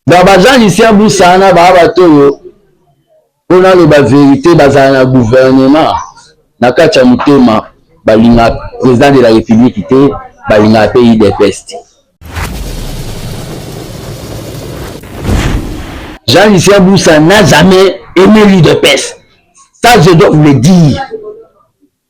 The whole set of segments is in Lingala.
donc baza lucien busana baa bato oyo mpo naloba verité bazala na gouvernement na kati ya motema balinga président de la république te balingaka mpe udps te jean lucien busa n'a jamais aimé l'udps ça je dois vous le dire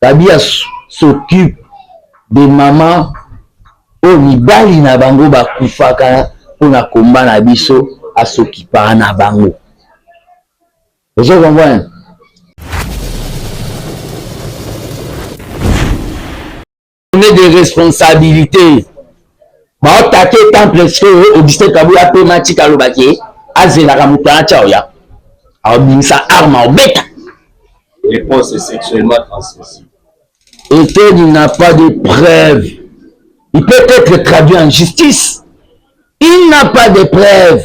Babia s'occupe des mamans oyo mibali na bango bakufaka pona combat na biso a s'occupaka na bango ozo comprendre tourne de responsabilité baotake temple sikoyo augustin kabuya apema tika alobaki azelaka moto wana tya oya aobimisa arme aobeta réponse sexuellement transmissible et qu'il n'a pas de preuve il peut être traduit en justice il n'a pas de preuve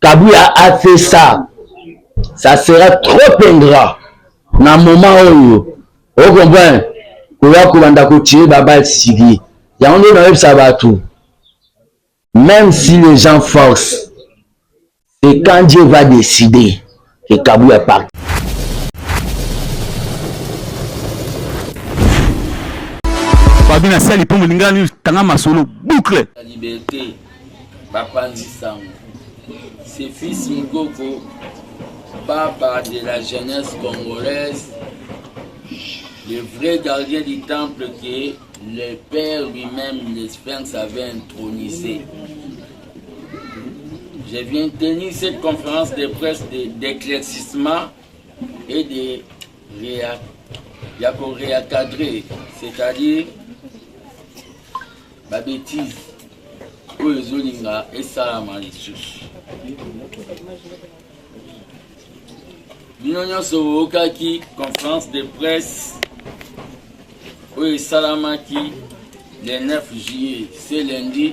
Kabuya a fait ça ça sera trop ingrat na moment oyo o comprendre koya kobanda kotire babal sigi yango nde nayebisa bato même si les gens force c'est quand dieu va décider Likabo ya parquet. Babi na sali mpo molinga nini tanga masolo boucle. La liberté bapanzi sango. C'est fils Mukoko papa de la jeunesse congolaise, le vrai gardien du temple que le Père lui-même, l'Espérance, avait intronisé. Je viens tenir cette conférence de presse d'éclaircissement et de réa, ya ko réencadrer, c'est-à-dire ba bêtises oyo ezolinga esalama lisusu. Bino nyonso boyokaki conférence de presse oyo esalamaki le 9 juillet, ce lundi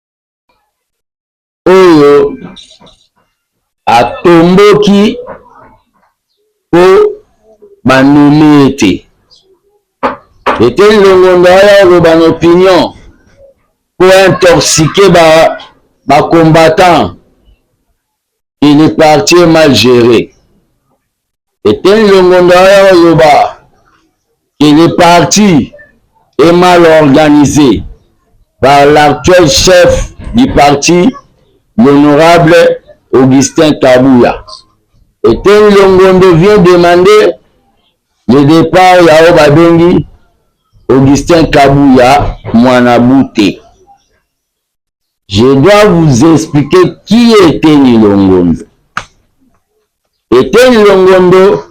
oyo atomboki mpo banomi ye te eteni longondo aya oloba na opinion mpo intoxique ba bacombattant et le parti est mal géré Eteni longondo aya oloba que le parti est mal organisé par l'actuel chef du parti l'honorable Augustin Kabuya. Eteni longondo vient demander le départ ya oyo babengi Augustin Kabuya mwana bute. Je dois vous expliquer qui est Eteni Longondo. Eteni Longondo,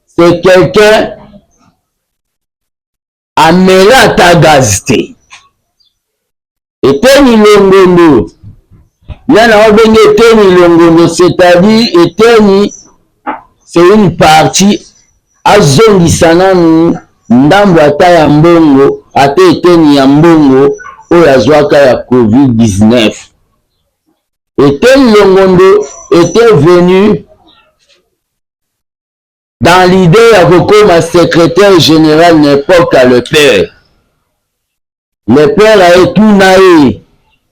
c'est quelqu'un amela ata gaz te. Eteni Longondo, yana obenge Eteni Longondo, c'est-à-dire Eteni C'est une partie azongisa nanu ndambu ata ya mbongo ata eteni ya mbongo oyo azwaka ya covid 19 Etienne Longondo etait venu dans l'idee ya kokoma secretaire general n'importe le père Le père aye tuna ye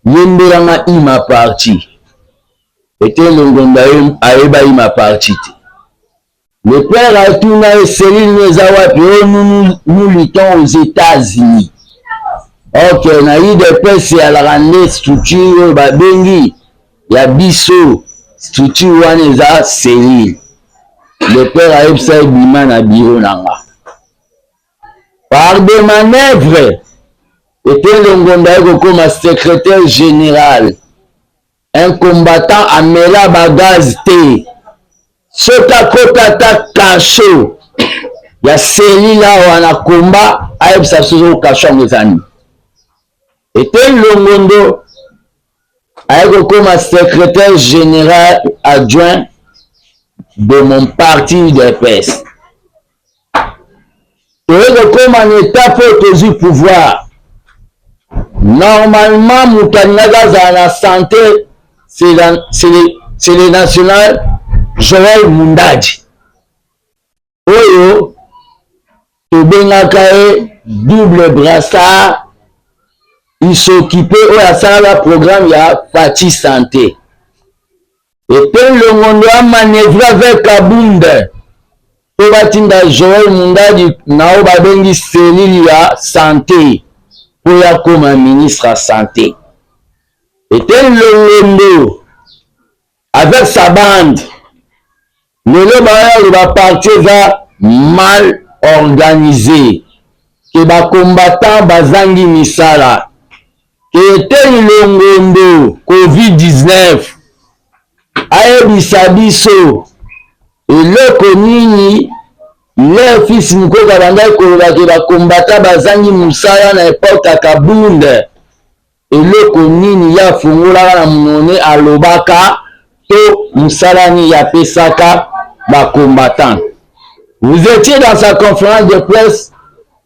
yembela nga ima parti ete longondo ayeba ima parti te le père aye tuna ye selile no eza wapi o oh, nous, nous luttons aux états-unis ok na udps alaka nde structure oyo babengi ya biso structure wana eza selile le père ayebisa ye bima na biro na nga Par des manœuvres, Etendo Ngonda aye kokoma secretaire general. Un combattant amela ba gaz te. Soki akota ata cachot ya cellule awa na combat, ayebisa biso soki cachot yango eza nini. Etendo Longondo aye kokoma secretaire general adjoint de mon parti UDPS. toye kokoma na etape oyo tozwi pouvoir normalement moto alingaki azala na sante c'est le national joel mundadi oyo tobengaka ye double brassard isokipe oyo asalaka programme ya fati sante Ete Longondo a manevre avec Kabund po batinda Joel Mundadi na oyo babengi cellule ya sante po ye akoma ministre ya sante. Ete Longondo avec sa bande Lelo baoyo ba parti eza mal organise ke ba combattant bazangi misala ke eteni longondo covid 19 ayebisa biso eloko nini leur fils mukoko abandaki koloba ke ba combattant bazangi mosala na epoque ya kabund Eloko nini ye afongolaka na munoko ne alobaka to musala nini ye apesaka ba combattants? Vous etiez dans sa conference de presse,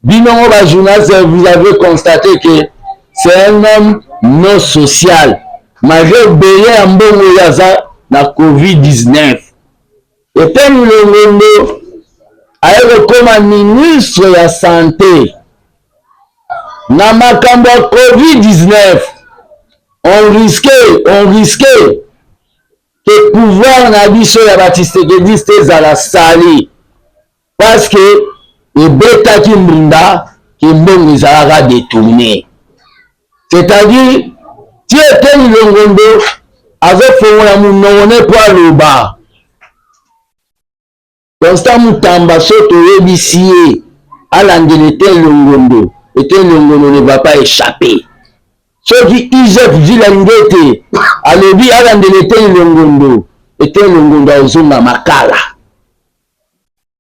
bino moko ba journalistes vous avez constate que c'est un homme non social malgre ebele ya mbongo oyo aza na covid 19. Eteni Longondo aye kokoma ministre ya sante na makambo ya Covid-19 on risque on risque ke pouvoir na biso ya ba tshisekediste ezala sali Parce que ebetaki mbunda ke mbongo ezalaka detourne c'est-à-dire ti eteni longondo azofongola monoko ne po aloba constant mutamba so toyebisi ye alandela eteni longondo eteni longondo ne va pas échapper soki igf vile alingi ete alobi alandela eteni longondo eteni longondo azonga makala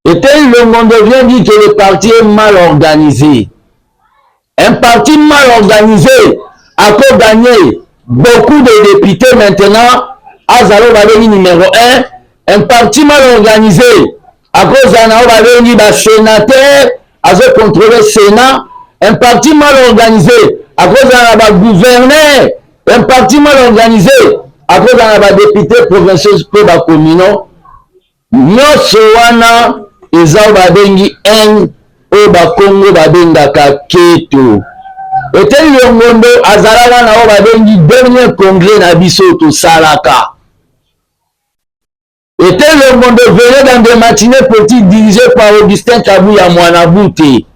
Eteyi Longondo vient dire que le parti est mal organisé. Un parti mal organisé a ko gagner beaucoup de députés maintenant azala oyo babengi numéro 1 un parti mal organisé akozala na oyo babengi basénateur azocontrole sénat un parti mal organisé akozala na bagouverneur un parti mal organisé akozala na badépute provinciaux mpe bacommunaux Nionso wana eza oyo babengi haine oyo bakongo babengaka keto. Eteni Longondo azalaka na oyo babengi dernier congrès na biso oyo tosalaka. Eteni Longondo venait dans des matinées politiques dirigées par Augustin Kabuya Mwanabute.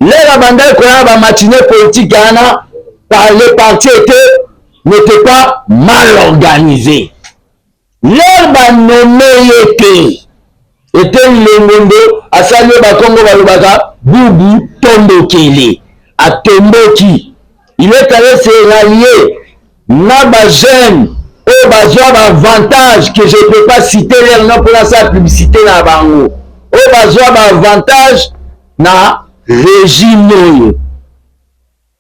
Lelo abandaki koya ba matinées politiques wana par les partis étaient n'était pas mal organisé. Leur ba nomme ye te eteni longondo asali oyo bakongo balobaka bubu tombokele atomboki il est allez se rallier na ba jeune oyo bazwa ba avantage que je peux pas citer leur nom mpo nasala publicité na bango oyo bazwa ba avantage na regime oyo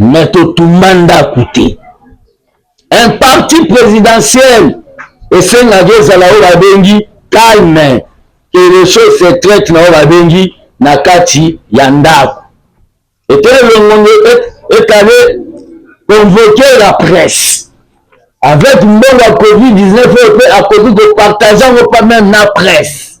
mais totumba ndako te un parti présidentiel esengaki ezala oyo babengi calme que les choses se traite na oyo babengi na kati ya ndako ete elongongo ekale convoquer la presse avec mbongo ya covid-19 oyo mpe akoki kopartage yango pa meme na presse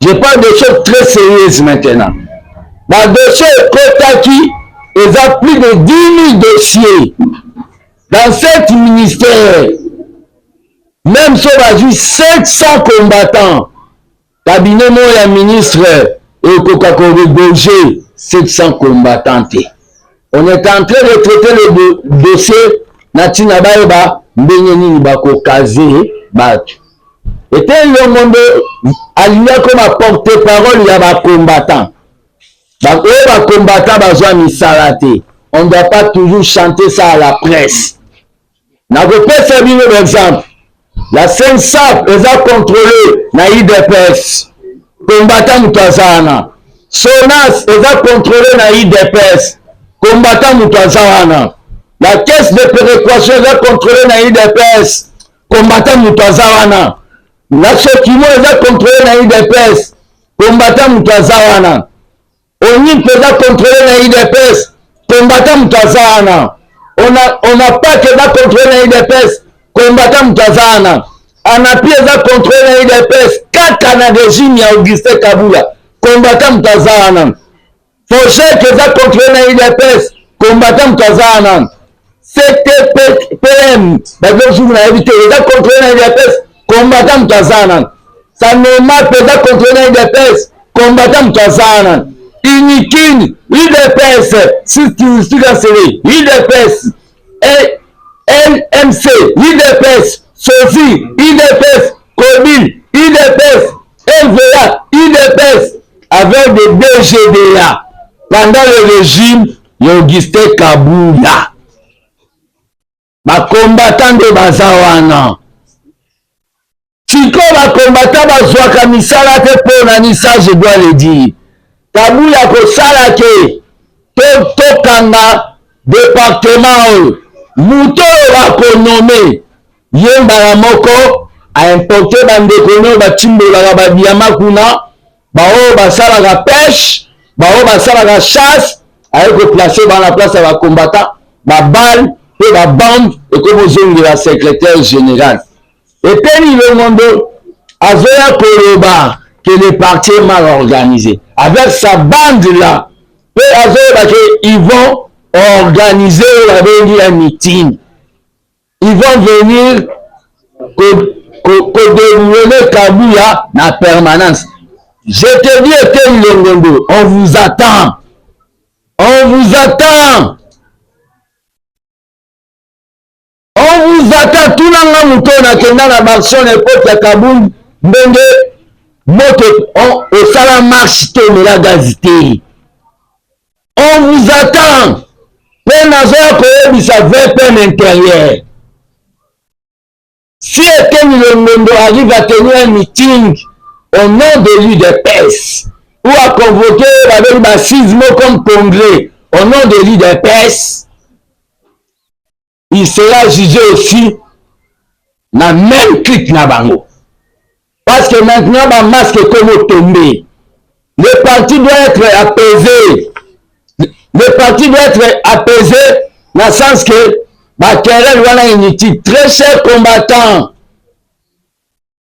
Je parle des choses très sérieuses maintenant. Ba dossiers ekotaki eza plus de 10 000 dossiers dans sept ministères. Même so bazwi 700 combattants, cabinet moko ya ministre ekoka ko regorger 700 combattants te. On est en train de traiter le dossier na ntina bayeba ndenge nini bakokaze bato ete elongo nde alingi akoma porte parole ya bacombattant oyo bacombattant bazwa misala te on doit pas toujours chanter ça à la presse Nakopesa bino ba exemple. La Sensap eza controle na IDPS. Combattant moto aza wana. Sonas eza controle na IDPS. Combattant moto aza wana. La caisse de péréquation eza controle na IDPS. Combattant moto aza wana. La Sokimo eza controle na IDPS. Combattant moto aza wana. Oni mpe eza controle na udps kombata moto aza wana ona pake eza controle na udps kombata moto aza wana anapi eza controle na udps kaka na regime ya augustin kabula kombata moto aza wana fojek eza controle na udps kombata moto aza wana CTPM bazo jour na yebi te eza contrôle na UDPS combattant moto aza nanu sanema mpe eza contrôle na UDPS combattant moto aza nanu unikin UDPS sika sele UDPS LMC UDPS sofi UDPS cobil UDPS LVA UDPS avec des DGDA pendant le régime Ya Augustin Kabuya bakombata nde baza wana sikoyo bakombata bazwaka misala te mpo na ni ça je dois le dire kabuya kosala ke tokanga to departement oyo moto oyo bakonome ye mbala moko aimporte bandeko nayo batimbolaka badiama kuna baoyo basalaka peshe baoyo basalaka chasse aye koplace bana place ya bakombata babale mpe babambe ekomozongela secrétaire général eteni ilongondo azoya koloba que le parti est mal organisé avec sa bande là mpe azoyeba ke ils vont organiser oyo babengi ya meeting Ils vont venir koderouler Kabuya na permanence. Je te dis Etienne Longondo, on vous attend. On vous attend. On vous attend. Tuna nga moto nakenda na Barcelone epoque ya Kabund ndenge moto osala marche te omela gazi te. On vous attend mpe nazoya koyebisa vpn interieur si eteni longondo arrive à tenir un meeting au nom de l'udps ou à convoquer babeli basise moko comme congrès au nom de l'udps il sera jugé aussi na même clique na bango parce que maintenant ba masque ekomi otombe le parti doit être apaisé le parti doit être apaisé na sens que bakerel wana inutile très cher combattant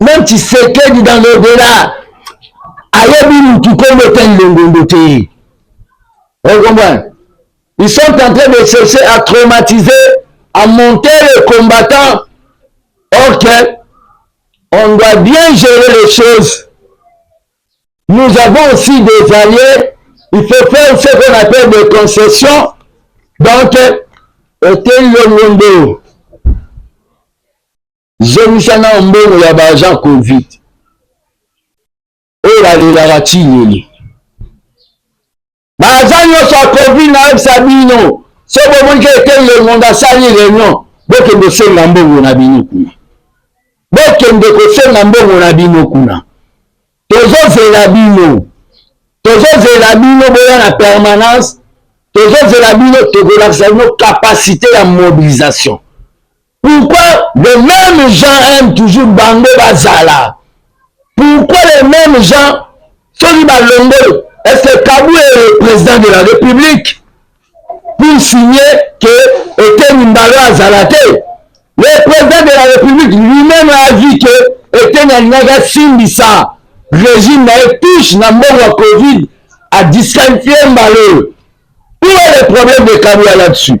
même tshisekedi dans le delà ayebi mutu kombo ete nlongondo te okomprendre ils sont en train de chercher à traumatiser à monter les combattants ok on doit bien gérer les choses Nous avons aussi des alliés, il faut faire ce qu'on appelle des concessions. Donc, Hôtel Longondo, zongisa na mbongo ya baagent covid oyo balelaka ntinini baza nyonso ya covid nayebisa bino so bomoni ke ete lengondo asali reunion bokende osenga mbongo na bino kuna bokende kosenga mbongo na bino kuna tozozela bino tozozela bino boya na permanence tozozela bino tokolakisa bino kapasite ya mobilisation Pourquoi les mêmes gens aiment toujours bango bazala? Pourquoi les mêmes gens soki balongoli est-ce que Kabou est le président de la République pour signer que Eteni Mbalo azala te? Le président de la République lui-même a dit que Eteni alingaki asimbisa régime na ye touche na mbongo ya Covid a disqualifie Mbalo. Où est le problème de Kabou là-dessus?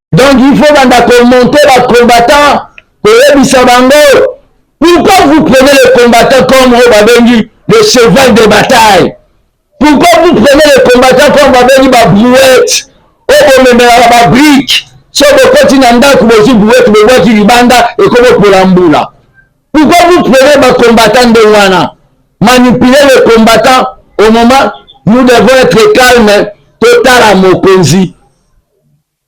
donc il faut banda komonte bacombattant koyebisa bango pourquoi vous prenez le combattant comme oyo babengi le cheval de bataille pourquoi vous prenez le combattant comme babengi babrouette oyo bomemelaka babrike so bokoti na ndako bozwi brouette bobwaki libanda ekobopola mbula pourquoi vous prenez bacombattant nde wana manipuler le combattant au moment nous devons être calme totala mokonzi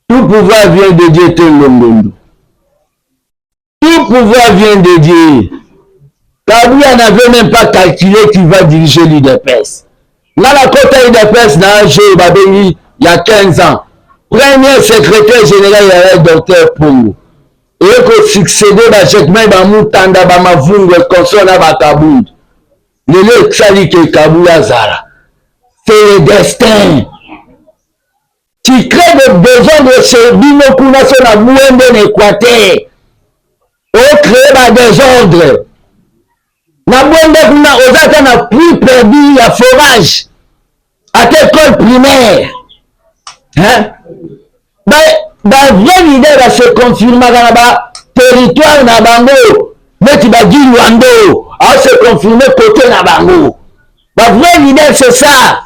Tout pouvoir vient de Dieu te longondo. Tout pouvoir vient de Dieu. Kabila n'avait même pas calculé qu'il va diriger l'UDPS. Nga na kota UDPS na un jour babengi il y a 15 ans. Premier secrétaire général ya docteur Pongo. Eye ko succéder ba Jacquemain ba Mutanda ba Mavungu et consort na ba Kabund. Lelo esali ke Kabila azala. C'est le destin. Titre de desordre chez bino kuna se na mwende na Equateur. O créer ba desordre. Na mwende kuna oza ata na prix perdu ya forage. Ata école primaire. Hein? Ba, ba vrai leader ba se confirmaka na ba territoire na bango neti ba Gilwando a se confirmer côté na bango. Ba vrai leader c'est ça.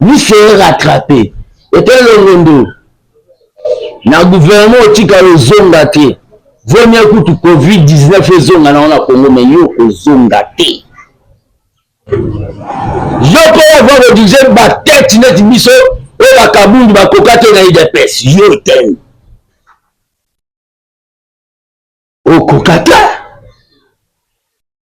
Vous serez rattrape. Ete longondo na gouvernement otika ozonga te. Vaut mieux kutu Covid-19 ezonga na wana Congo mais yo kozonga te. Yo mpe ova kodirige batete neti biso oyo bakabundu bakoka te na udps yo teni okoka te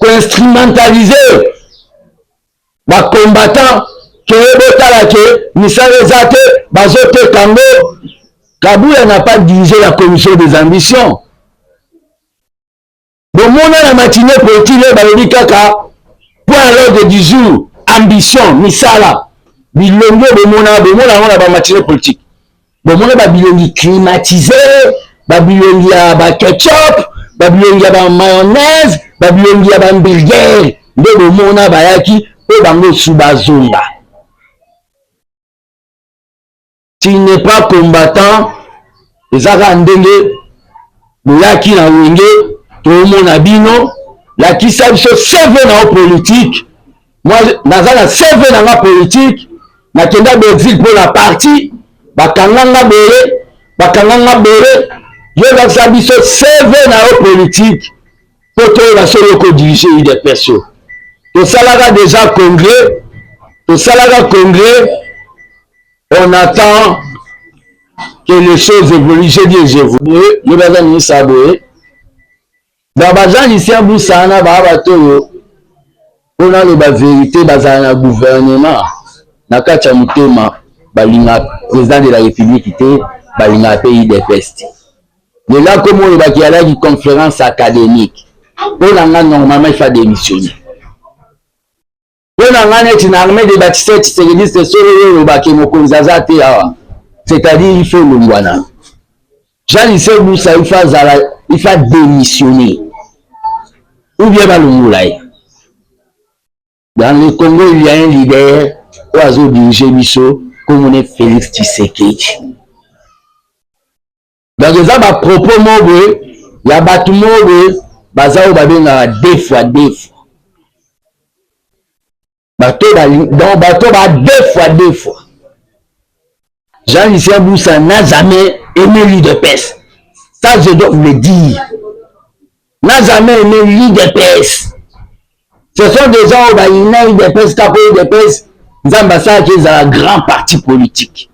ko instrumentaliser ba combattants ke botala ke misala eza te bazoteka yango kabula na pas dirige la commission des ambitions bomona na matinee poetile balobi kaka point l'ordre du jour ambition misala bilongo bomona bomona yango na ba matinee politique bomona ba bilongi climatise ba bilongi ya ba ketchup ba bilongi ya ba mayonnaise ba bilongi ya ba hamburger nde bomona bayaki mpo bango su bazonga tu n'es pas combattant eza kaka ndenge boyaki na wenge toomona bino lakisa biso seve na yo politike Moi, naza na CV na nga politique, nakenda Belgique mpo na parti, bakanga nga boye, bakanga nga boye, yebakisa biso CV na yo politique mpo toyeba soki okodirige udps yo. Tosalaka deja congrès, tosalaka congrès, on attend que les choses évoluent. J'ai dit je vous. Boye, yebaka ministre ya boye, Donc baza Lucien Busa na ba bato oyo mpo naloba verite bazala na gouvernement na kati ya motema balinga président de la république te balingaka mpe udps te lelo akomi olobaki alaki conférence académique mpo na nga normalement ifa démissionner mpo na ngai neti na armee de batiste tshisekediste solo yo olobaki mokonzi aza te awa c'est-à-dire ifo olongwana jean lise busa ifo azala ifo adémissionne ou bien balongola ye dans le congo il y a un leader oyo azodirige biso komone félix tshisekedi donc eza ba propos moko boye ya bato moko boye baza oyo babengaka defwa defwa bato donc bato ba defwa defwa jean lucien busa n'a jamais aimé lui de pese ça je dois vous le dire n'a jamais aimé l'udps ce sont des gens oyo bayina udps kaka udps nzambe asalaki ezala grand parti politique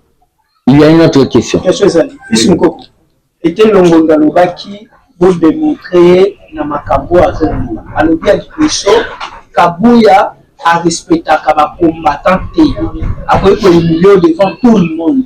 il y a une autre question question ezali bisu mokoko ete longondo alobaki bodemontre ye na makambo oyo azoloba alobi ya liboso kabuya arespectaka bacombattant te akoki koyimilio devant tout le monde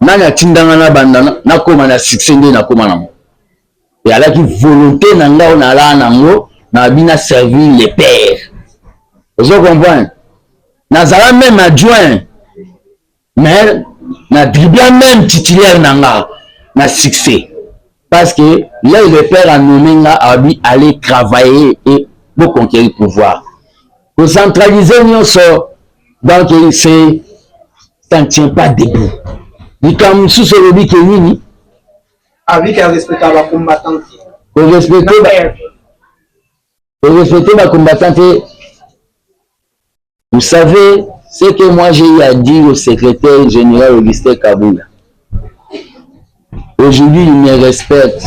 Nani atinda nga na banda na koma na succès nde na koma nango et alaki volonté na nga na la nango na bina servir le père ozo comprendre nazala même adjoint mais na dribla même titulaire na nga na succès Parce que là le père a nommé nga abi aller travailler et pour conquérir pouvoir. Ko centraliser nyonso donc c'est ça ne tient pas debout. Likambo mosusu olobi ke nini? Abi ka respecter ba combattants. Ko respecter ba ko respecter ba combattants Vous savez ce que moi j'ai eu à dire au secrétaire général Augustin Kabila. Aujourd'hui, il me respecte.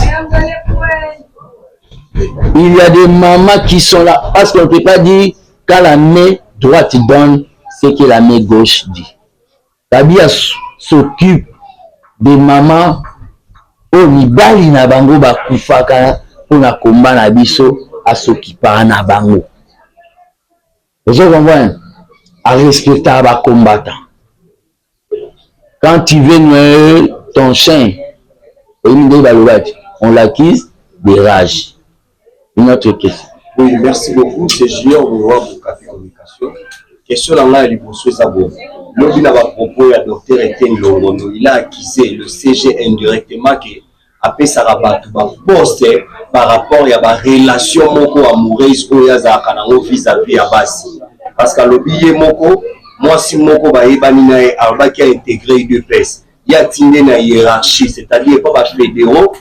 Il y a des mamans qui sont là parce qu'on ne peut pas dire quand la main droite donne ce que la main gauche dit. Kabila s'occupe des mamans oyo mibali na bango bakufaka mpo na komba na biso asokipaka na bango Ozo comprendre? A respectaka ba combattants. Quand tu veux noyer ton chien, oyebi ndenge balobaki, on l'accuse de rage. Une autre question. Oui, merci beaucoup. C'est Junior Mouroua pour Café Communication. Question na ngai ya liboso eza boye. Lobi na ba propos ya docteur Etienne Longondo, il a accusé le CG indirectement que apesaka batu ba poste par rapport ya ba relation moko amoureuse oyo azalaka nango vis a vis ya basi parce que alobi ye moko mwasi moko bayebani na ye alobaki a integre udps ye atinde na hierarchie c'est à dire epa ba federaux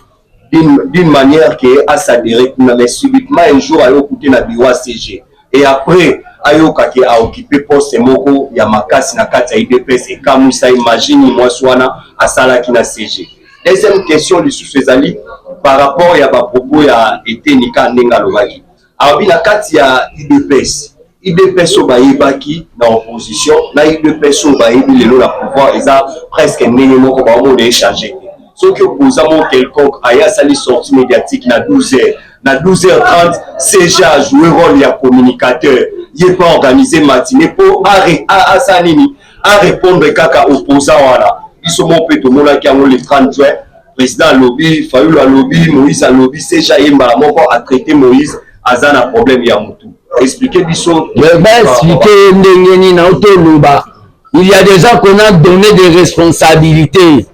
d'une manière que asadere kuna mais subitement un jour aye okute na bureau ya cg et après ayoka ke a occupe poste moko ya makasi na kati ya udps ekamwisa ye magie nini mwasi wana asalaki na cg deuxième question lisusu ezali par rapport ya bapropos ya eteni ka ndenge alobaki alobi na kati ya udps udps oyo bayebaki na opposition na udps oyo bayebi lelo na pouvoir eza presque ndenge moko baomona echange te soki opposant moko quelconque aye asali sortie médiatique na 12 heures na 12h30 CG a joué rôle ya communicateur ye mpe organise matine mpo asala nini arépondre kaka opposant wana biso moko mpe tomonaki yango le 30 juin président alobi fayulu alobi moïse alobi CG ye mbala moko atraite moïse aza na problème ya motu explike biso baexplike ye ndenge nini aotoloba il y a des gens qu'on a donné des responsabilités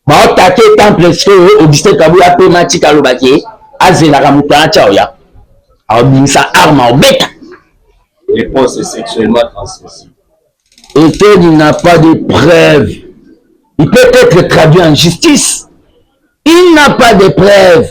Ba attaque temple sikoyo Augustin Kabuya pe Mathieu kaloba ke azelaka moto na tya oya aobimisa arme aobeta réponse sexuellement transmissible Eteni n'a pas de preuve il peut être traduit en justice il n'a pas de preuve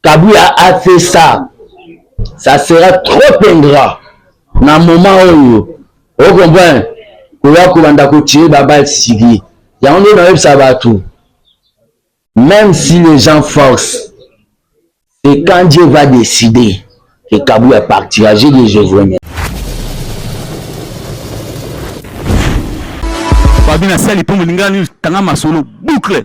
Kabuya a fait ça ça sera trop ingrat na moment oyo o comprendre koya kobanda kotire babal sigi yango nde nayebisa bato même si les gens forcent et quand Dieu va décider que Kabuya partira je dis je vous remercie Fabien asali mpo molingani tanga masolo boucle